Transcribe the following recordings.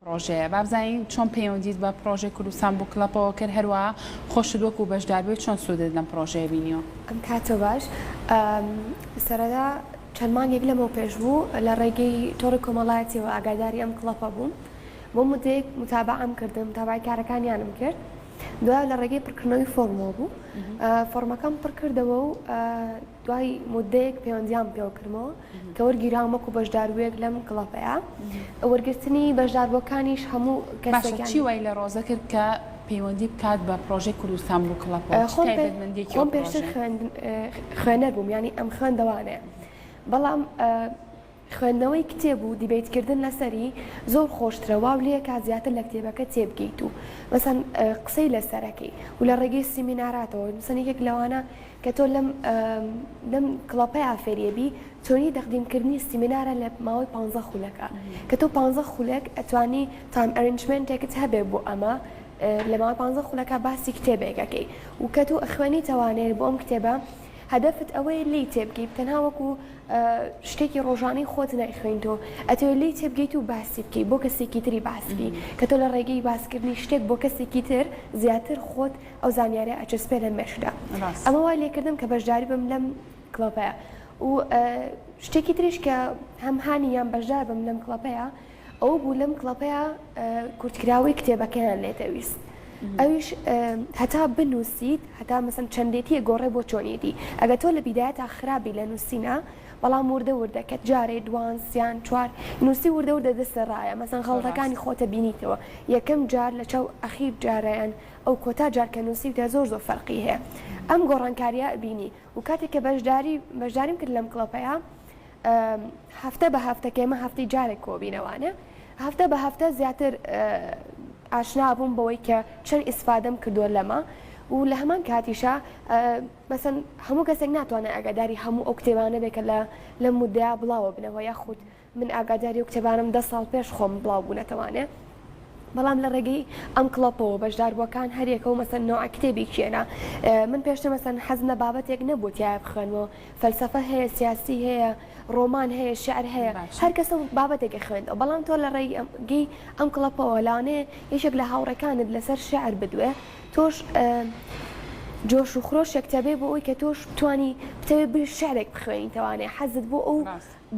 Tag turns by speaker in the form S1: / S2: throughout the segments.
S1: پڕۆژەیە بابزانین چۆن پەیوەندیت بە پڕۆژەی کوردستان بوک کڵەپەوە کرد هەروەها خۆشت وەکو بەشداربووی چۆن سوودت لەم پڕۆژەیە بینیوە؟ کاتۆ باش
S2: سەرەتا چەند مانگێک لەمەو پێش بوو لە ڕێگەی تۆڕی کۆمەڵایەتیەوە ئاگاداری ئەم کڵەپە بووم بۆ مدەیەک متابعەم کردم تابای کارەکانیانم کرد دوای لە ڕێگەی پڕکردنەوەی فۆرمەوە بوو فۆرمەکەم پڕکردەوە و دوای مودەیەک پەیوەندیان پێوەکردمەوە کە وەرگیراوم وەکو بەشداروێک لەم کڵەپەیە وەرگرتنی بەشداربووەکانیش هەموو کەسێکی وای لە
S1: ڕۆزە کرد کە پەیوەندی بکات بە پرۆژەی کوردستان بوو کڵەپە
S2: پێشتر خوێنەر بووم ینی ئەم خوێندەوانەیە بەڵام خوێندنەوەی کتێب و دیبەیت کردن لەسەری زۆر خۆشترە واو لێکات زیاتر لە کتێبەکە تێبگەیت و مەسەن قسەی لەسەرەکەی و لە ڕێگەی سیمیناراتەوە مەسەن یەکێک لەوانە کە تۆ لەم لەم کڵەپەیا فێریە بی تۆنی دەقدیم کردنی سیمینارە لە ماوەی پ خولەکە کە تۆ پ خولێک ئەتوانی تام ئەرنجمنتێکت هەبێ بۆ ئەمە لە ماوەی پ خولەکە باسی کتێبێکەکەی و کە تۆ ئەخوێنی تەوانێت بۆ ئەم کتێبە هەدەفت ئەوەیە لی تێبگەی تەنها وەکو شتێکی ڕۆژانەی خۆت نایخوێنی تۆ ئەتەوێت لێی تێبگەیت و باسی بکەیت بۆ کەسێکی تری باس بکەیت کە تۆ لە ڕێگەی باسکردنی شتێک بۆ کەسێکی تر زیاتر خۆت ئەو زانیارە ئەچەسپێ لە مێشکدا ئەمە وای لێکردم کە بەشداری بم لەم کڵۆپەیە و شتێکی تریش کە هەم هانی یان بەشدار بم لەم کڵۆپەیە ئەوە بوو لەم کڵەپەیا کورتکراوەی کتێبەکەیان لێتەویست ئەویش هەتا بنووسیت هەتا مەسم چەندێتیە گۆڕێ بۆ چۆنیەتی ئەگە تۆ لە بیداە تا خراپی لە نووسینە بەڵام وردە وردە کە جارێ دوان سیان چوار نووسی وردە وردە دەستە ڕایە مەسن خەڵەکانی خۆتە بینیتەوە یەکەم جار لە چاو ئەخیر جارەیان ئەو کۆتا جارکە نووسیوتە زۆر زۆر فەرقی هەیە ئەم گۆڕانکاریە بینی و کاتێک کە بەشداری بەشداریم کرد لەم کڵەپەیە هەفتە بە هەفتە کێمە هەفتی جارێک کۆبینەوانە هەفتە بە هەفتە زیاتر ئاشنا بووم بەوەی کە چەند ئیسفادەم کردووە لەمە و لە هەمان کاتیشە بەسەن هەموو کەسێک ناتوانێت ئەگاداری هەموو ئەو کتێبانە بێکە لە لە مدەیا بڵاوە بنەوە یاخود من ئاگاداری و کتێبانم دە ساڵ پێش خۆم بڵاو بوونەتەوانێ بەڵام لە ڕێگەی ئەم کڵپەوە بەشداربووەکان هەریەکە و مەسەن نوع کتێبی کێنە من پێشتە مەسەن حەزنە بابەتێک نەبووتیایە بخوێنەوە فەلسەفە هەیە، سیاسی هەیە، ڕۆمان هەیە، شیعر هەیە، هەر کەسە و بابەتێک ئەخوێنێتەوە، بەڵام تۆ لە ڕێگەی ئەم کڵپەوە لەوانەیە یەکێک لە هاوڕێکانت لەسەر شیعر بدوێ، تۆش جۆش و خرۆشێکت هەبێ بۆ ئەوەی کە تۆش بتوانی بتەوێ بری شیعرێک بخوێنیت، لەوانەیە حەزت بۆ ئەو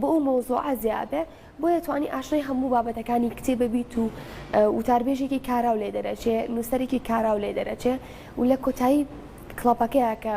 S2: بۆ ئەو مەوزوعە زیا بێ، بۆیە توانی ئاشنای هەموو بابەتەکانی کتێبە بیت و وتاربێژێکی کاراو لێ دەرەچێ، نووسەرێکی کاراو لێ دەرەچێ و لە کۆتایی کڵپەکەیە کە.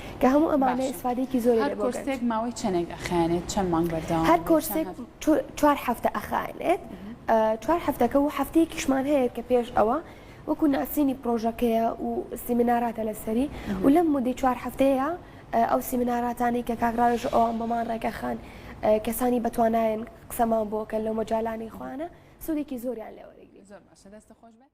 S2: کە هەموو ئەمانە باشە ئیسفادەیەکی زۆری هەر لێ بۆ گەنج کۆرسێک ماوەی چەنێک
S1: ئەخایەنێت چەن مانگ هەر بەردەوامە بۆ چەن کۆرسێک هەفتە؟ چو
S2: چوار هەفتە ئەخایەنێت ئە چوار هەفتەکە و هەفتەیەکیشمان هەیە کە پێش ئەوە وەکو ناسینی پڕۆژەکەیە و سیمیناراتە لەسەری و لەم مودەی چوار هەفتەیە ئە ئەو سیمیناراتانەی کە کاک ڕاوێژ و ئەوان بۆمان ڕێکەخان ئە کەسانی بەتوانایەن قسەمان بۆ
S1: کەن
S2: لەو مەجالانەی
S1: خۆیانە سودێکی
S2: زۆریان لێ
S1: وەرەگرین.
S2: زۆر باشە دەستت
S1: خۆش
S2: بێت.